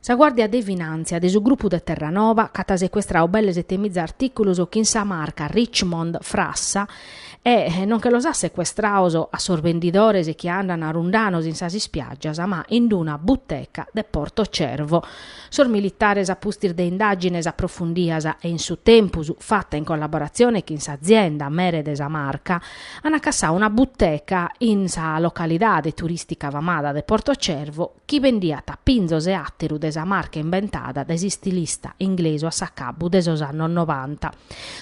Sa Guàrdia de Finàntzia de su grupu de Terranova ch'at secuestradu belle sete miza artìculos chin sa marca Richmond frassa e non che los at secuestrados a sos bendidores chi andant rundanos in sas ispiàgias ma in d-una buteca de Porto Cervo. Sos militares a pustis de indàgines aprofundidas e in su tempus fata in collaboratzione chin s'azienda mere de sa marca, an acassau una buteca in sa localidade turistica famada de Portocervo chi bendiat pinzos e àteru de sa marca imbentada dae s'istilista inglesu a s'acabbu de sos annos novanta.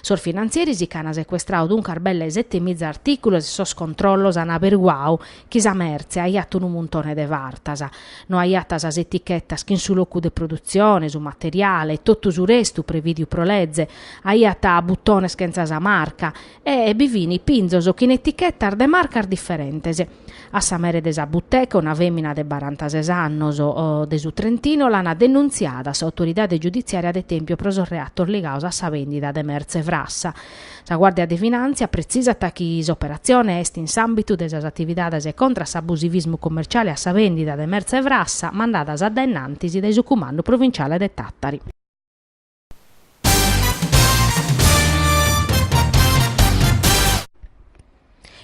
Sos finantzieris ch'an secuestrau duncas belle sete miza artìculos e sos controllos an aberguau chi sa mertze aiat unu muntone de fartas. No aiat sas etichetas chin su locu de produtzione, su materiale e totu su restu prevìdiu pro leze, aiat butones chentza sa marca, e bi fin pinzos chin etichetas de marcas diferentes. A sa mere de sa buteca una fèmina de barantases annos de su Trentino l'ant denuntziada a s'autoridade giuditziària de Tèmpio pro sos reatos ligados a sa bèndida de mertze frassa. Sa Guàrdia de Finàntzia pretzisat chi s'operatzione est in s'àmbitu de sas atividades contra s'abusivismu commerciale a sa bèndida de mertze frassa mandadas a dae in antis dae su Cumandu Provinciale de Tàtari.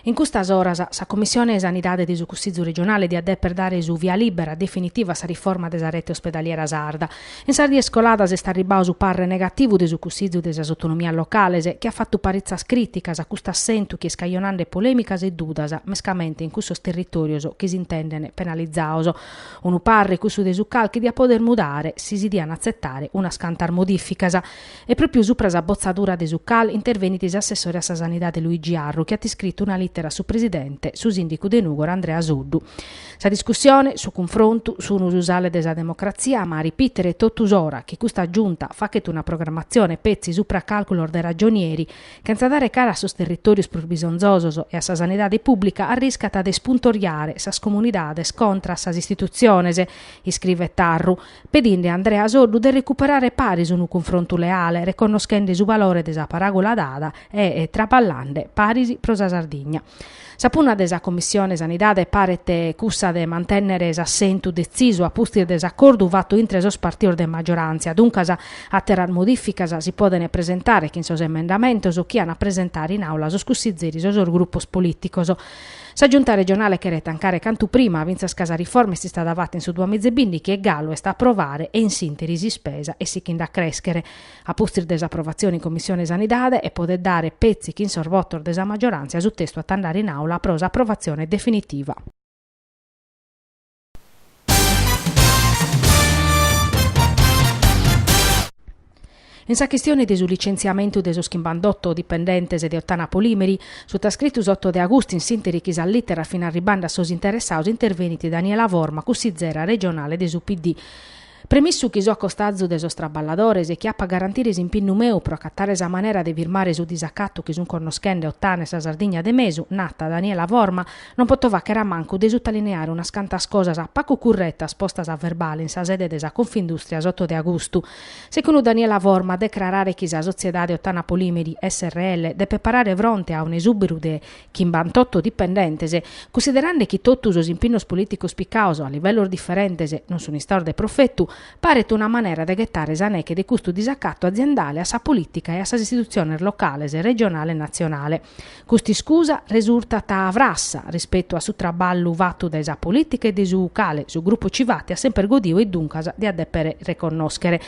In custas oras sa Commissione 'e Sanidade de su Cussizu Regionale diat deper dare su via libera definitiva a sa riforma de sa rete ospedaliera sarda. In sas dies coladas est arribbadu su parre negativu de su Cussizu de sas Autonomias Locales, chi at fatu paritzas crìticas a custu assentu chi est cajonande polèmicas e dudas, mescamente in cussos territòrios chi s'intendene penalizados. Unu parre cussu de su CAL chi diat poder mudare, si si diant atzetare unas cantas modìficas. E pròpriu supra sa botzadura de su CAL intervenit s'assessore a sa Sanidade Luigi Arru chi at iscritu una lìtera a su presidente, su sìndicu de Nùgoro Andrea Soddu. Sa discussione, su cunfrontu, sunu su sale de sa democratzia ma a ripìtere totu s'ora chi custa Giunta faghet una programmatzione petzi supra càlculos de ragionieri chentza dare cara a sos territòrios prus bisonzosos e a sa sanidade pùblica, arriscat de ispuntoriare sas comunidades contra a sas istitutziones, iscrivet Arru, pedinde a Andrea Soddu de recuperare paris unu cunfrontu leale, reconnoschende su valore de sa paràgola dada e traballande paris pro sa Sardigna. Sa punna de sa Commissione Sanidade paret cussa de mantènnere s'assentu detzisu a pustis de s'acordu fatu intre sos partidos de maggioràntzia. Duncas, àteras modìficas si podent presentare chin sos emendamentos chi ant a presentare in Àula sos cussizeris o sos grupos polìticos. Sa Giunta regionale cheret tancare cantu prima, fintzas ca sa riforma est istada fata in su duamiza e bìndighi e galu est a aprovare e in s'ìnteri s'ispesa est sichinde a crèschere. a pustis de s'aprovatzione in Commissione Sanidade e podet dare petzi chin sos votos de sa maggiorantzia su testu at andare in Aula pro s'aprovatzione definitiva. In sa chistione de su licentziamentu de sos chimbantotto dipendentes de Ottana Polimeri, sutascritu s'oto de agustu in s'inter chi sas literas fin arribbande a sos interessados intervenit Daniela Forma, cussizera regionale de su PD. Premissu chi so a costazu de sos traballadores e chi apo a garantire s'impinnu meu pro acatare sa manera de firmare su disacatu chi sun connoschende Otana e sa Sardigna de mesu, narat Daniela Forma, non poto fàchere a mancu de sutalineare unas cantas cosas pacu curretas postas a verbale in sa sede de sa Confindustria s'oto de agustu. Secunu Daniela Forma, decrarare chi sa sotziedade Otana Polimeri, srl, depet parare fronte a un'esùberu de chimbantotto dipendentes, cussiderande chi totu sos impinnos polìticos picaos a livellos diferentes non sun istaos de profetu, paret una manera de ghetare sa neche de custu disacatu aziendale a sa polìtica e a sas istitutziones locales, regionale e natzionale. Custa iscusa resurtat frassa rispetu a su traballu fatu dae sa polìtica e de su cale su grupu Civati at semper godiu e duncas diat dèpere reconnòschere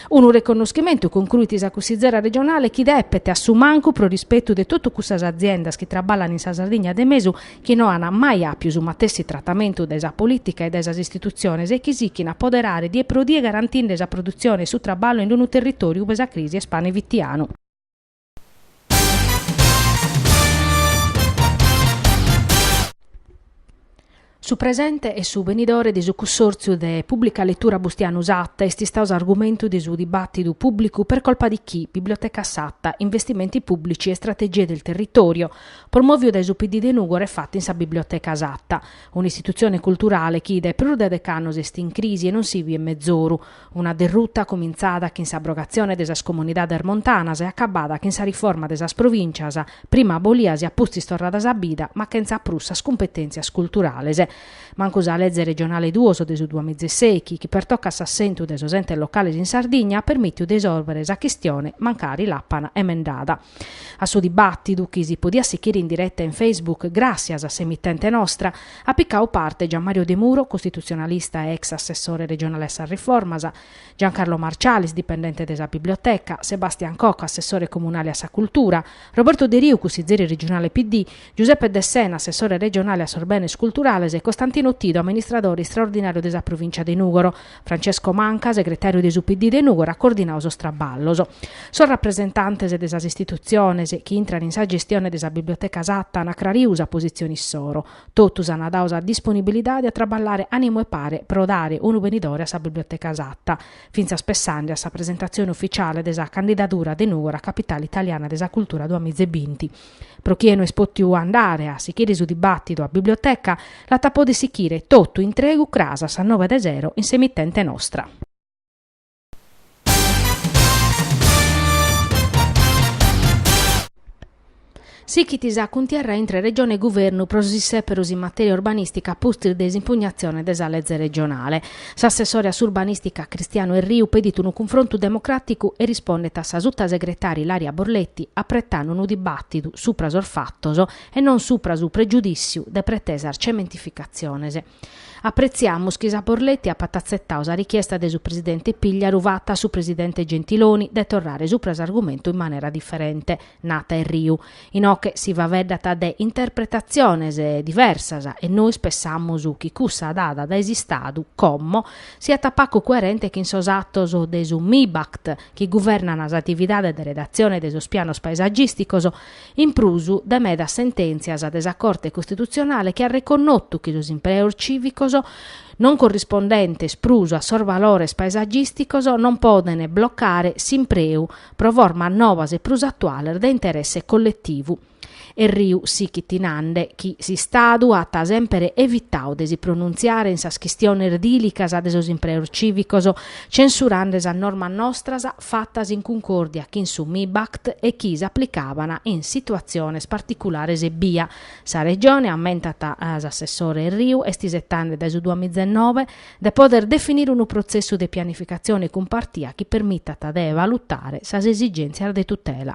Unu reconnoschimentu, concruit sa cussizera regionale, chi depet, a su mancu, pro rispetu de totu cussas aziendas chi traballan in sa Sardigna de mesu, chi no an mai àpiu su matessi tratamentu dae sa polìtica e dae sas istitutziones e chi sichint a poderare die pro die garantinde sa produtzione e su traballu in unu territòriu ue sa crisi est pane fitianu. Su presente e su benidore de su Cussòrtziu de Pùblica Letura Bustianu Satta est istau s'argumentu de su dibàtidu pùblicu per colpa di chi Biblioteca Satta, Investimenti pùblici e strategie del territorio, promòviu dae su PD de Nùgoro e fatu in sa Biblioteca Satta, un'istitutzione culturale chi dae prus de dec'annos est in crisi e non si biet mezoru, Una derruta cumintzada chin s'abrogatzione de sas comunidades montanas e acabbada chin sa riforma de sas provìncias, prima abolias e apustis torradas a bida, ma chentza prus sas cumpetèntzias culturales. Mancu sa Leze Regionale duos de su duamiza e sèichi, chi pertocat s'assentu de sos entes locales in Sardigna, at permìtiu de isòrbere sa chistione, mancari l'apana emendada. A su dibàtidu, chi si podiat sichire in direta in Facebook, gràssias a s'emitente nostra, At picau parte Gianmario Demuro, costitutzionalista e ex assessore regionale a sas riformas, Giancarlo Marcialis, dipendente de sa Biblioteca, Sebastian Cocco, assessore comunale a sa Cultura, Roberto Deriu, cussizeri regionale PD, Giuseppe Dessena, assessore regionale a sos Benes Culturales e Costantino Tidu, amministradore istraordinàriu de sa Provìncia de Nùgoro. Francesco Manca, segretàriu de su PD de Nùgoro, at coordinau sos traballos. Sos rapresentantes de sas istitutziones chi intran in sa gestione de sa Biblioteca Satta an acrariu sa positzione issoro. Totus an dau sa disponibilidade a traballare ànimu 'e pare pro dare unu benidore a sa Biblioteca Sat, fintzas pessande a sa presentatzione ufitziale de sa candidadura de Nùgoro a Capitale italiana de sa cultura duamiza e binti. Pro chie no est pòtiu andare a sichire su dibàtidu a biblioteca, l'at a poder sichire totu intregu cras a sas nobe de sero in s'emitente nostra. Sichit sa cuntierra intre Regione e Guvernu pro sos issèperos in matèria urbanìstica pustis de s'impugnatzione de sa Leze Regionale. S'assessore a s'Urbanistica Cristiano Erriu pedit unu cunfrontu democraticu e rispondet a sa sutasegretària Ilaria Borletti apretande unu dibatidu supra sos fattos e non supra su pregiudìtziu de pretesas cementificatziones. Apretziamus chi sa Borletti apat atzetau sa richiesta de su presidente Pigliaru fata a su presidente Gentiloni de torrare supra s'argumentu in manera diferente. nat Erriu, inoche si faveddat de interpretatziones diversas e nois pessamus chi cussa dada dae s'Istadu, como, siat pacu coerente chin sos atos de su MIBACT chi guvernan sas atividades de redatzione de sos pianos paesagìsticos, in prus de medas sentèntzias de sa Corte Costitutzionale chi at reconnotu chi sos impreos cìvicos non corrispondentes prus a sos valores paesagìsticos non poden blocare s'impreu pro formas nobas e prus atuales de interesse colletivu. Erriu sichit nande chi s'Istadu at semper evitadu de si pronuntziare in sas chistiones dìlicas de sos impreos cìvicos, censurande sas normas nostras fatas in cuncòrdia chin su MIBACT e chi s'aplicaban in situatziones particulares ebbia. Sa Regione, ammentat s'assessore Erriu, est isetande dae su duamizenobe, de poder definire unu protzessu de pianificatzione cumpartia chi permitat de valutare sas esigèntzias de tutela.